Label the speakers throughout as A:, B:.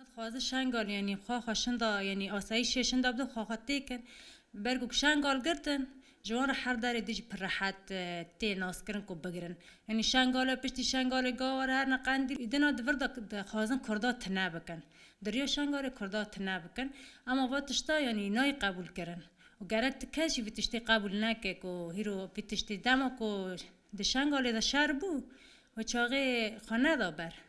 A: Dixwazin Şengal yanî xwe xwe şinda yanî asayîşê şinda bidin xwe xwe tê kin. Ber ku Şengal girtin ji wan re her darê din jî pir rehet tê naskirin ku bigirin. Yanî Şengale piştî Şengalê gawa re herine Qendîl û dina di vir de dixwazin Kurda tune bikin. Di riya Şengalê Kurda tune bikin. Ema va tişta yanî nayê qebûlkirin. Û gerek tu kes jî vî tiştî qebûl neke ku hîro vî tiştî dema ku di Şengalê de şer bû, we çaxê xwe neda ber.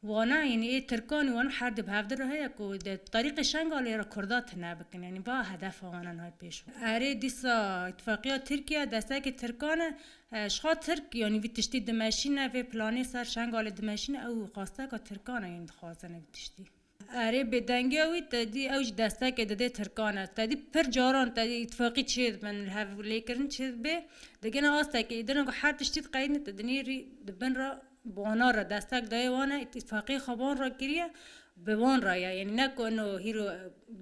A: Wana yanî ê tirkan û wan her du bi hev dir re heye ku di terîqê Şengalê re kurda tune bikin yanî va hedefa wan e niha pêş ve. Erê dîsa îtîfaqiya Tirkiye destekê tirkan e. Jixwe tirk yanî vî tiştî dimeşîne vê planê ser Şengalê dimeşîne ew qasteka tirkan e yanî dixwazin vî tiştî. Erê bêdengiya wî tedî ew jî destekê dide tirkan e. Tedî pir caran tedî îtîfaqî çê dibin li hev lêkirin çê dibê digihne astekê îdirna ku her tiştî di qeyîdin di dinê rî di bin re. Baner re destek daye wan e îtîfaqê xwe van re kiriye bi wan re ye yanî ne ku ino hîro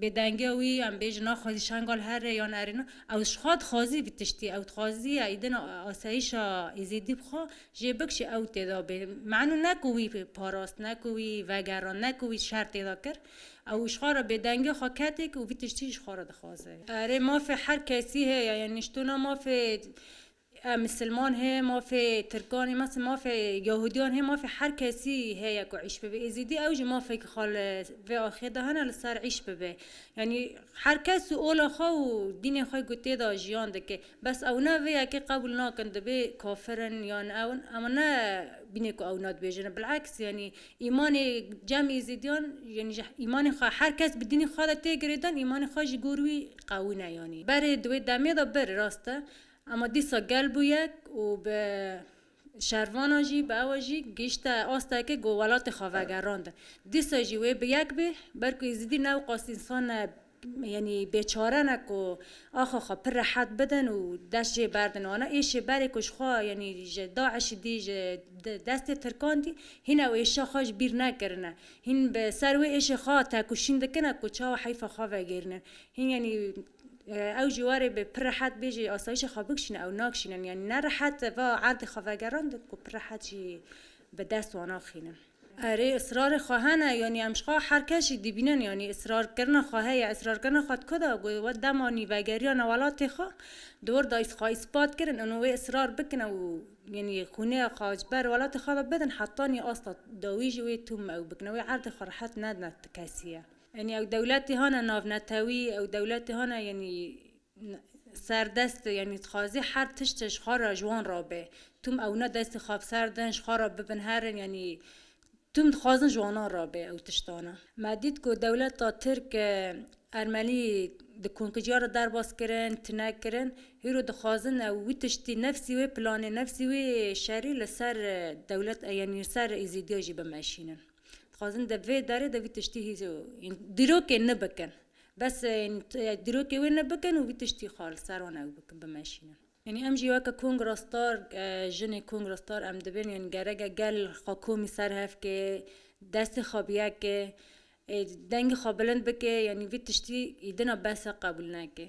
A: bêdengiya wî em bêjin a xwezî Şengal here yan erêna ew ji xwe dixwazî vî tiştî ew dixwaziye îdina asayîşa Êzîdî bi xwe jê bikişî ew têda bê menu ne ku wî parast ne ku wî vegerand ne ku wî şer têda kir ew ji xwe re bêdengiya xwe ketêk û vî tiştî ji xwe re dixwaze. Erê mafê her kesî heye yanî ji tûna mafê Em misilman hê, mafê tirkan hê, mes mafê yahûdiyan hê, mafê her kesî heye ku îş bibe. Êzîdî ew jî mafekî xwe li vê axê de hene li ser îş bibe. Yanî her kes û ola xwe û dînê xwe ku tê de jiyan dike. Bes ew ne vê yekê qebûl nakin dibê kafir in yan ew in. Em ne bînê ku ewna dibêjin. Bil'eks yanî îmanê cem êzîdiyan yanî ji îmanê xwe her kes bi dînê xwe de tê girêdan îmanê xwe ji gor wî qewî ne yanî. Berê di wê demê de bir rast e. Ema dîsa gel bû yek û bi şervanan jî bi ewe jî gihîşte asteke ku welatê xwe vegerand. Dîsa jî wê bi yek bê ber ku Êzidî ne qas însan e yanî bêçare ne ku axa xwe pir rehet bidin û dest jê berdin. Wana êşê berê ku ji xwe yanî ji DAIŞ'î dî ji destê Tirkan dî hîn ew êşa xwe ji bîr nekirine. Hîn bi ser wê êşê xwe têkoşîn dikine ku çawa heyfa xwe vegêrînin. Hîn yanî Ew jî warê bi pir rehet bêjî asayîşê xwe bikişîne ew nakişînin yanî ne rehet va erdê xwe vegerandin ku pir rehet jî bi dest wan axînin. Erê israrê xwe hene yanî em ji xwe her kes jî dîbînin yanî israrkirina xwe heye israrkirina xwe di ku de got we dema nî vegeriyane welatê xwe di wir de xwe îspat kirin û wê israr bikin ew yanî xûnê xwe ji ber welatê xwe de bidin heta nî asta dawî jî wê tûm ew bikin wê erdê xwe rehet nedin ti kesî ye. Yanî ew dewletê hane navnetewî, ew dewletê hane yanî serdest, yanî dixwazê her tiştê ji xwe re ji wan re be. Tim ewne destê xwe bi ser din, ji xwe re bibin herin yanî tim dixwazin ji wanan re be ew tiştane. Me dît ku dewleta Tirk Ermenî di konkijiya re derbas kirin, tune kirin. Hîro dixwazin ew wî tiştî nefsî wê planê, nefsî wê şerî li ser dewlet yanî li ser Êzîdiya jî bimeşînin. Dixwazin di vê derê de vî tiştî dîrokê ne bikin. Bes dîrokê wê ne bikin û vî tiştî xwe li ser wan ew bikin bimeşînin. Yanî em jî weke kongrastar jinê kongrastar em dibin yanî gerek e gel xwe komî ser hev kê, destê xwe bi yek kê, dengê xwe bilind bikê yanî vî tiştî îdina bes e qebûl neke.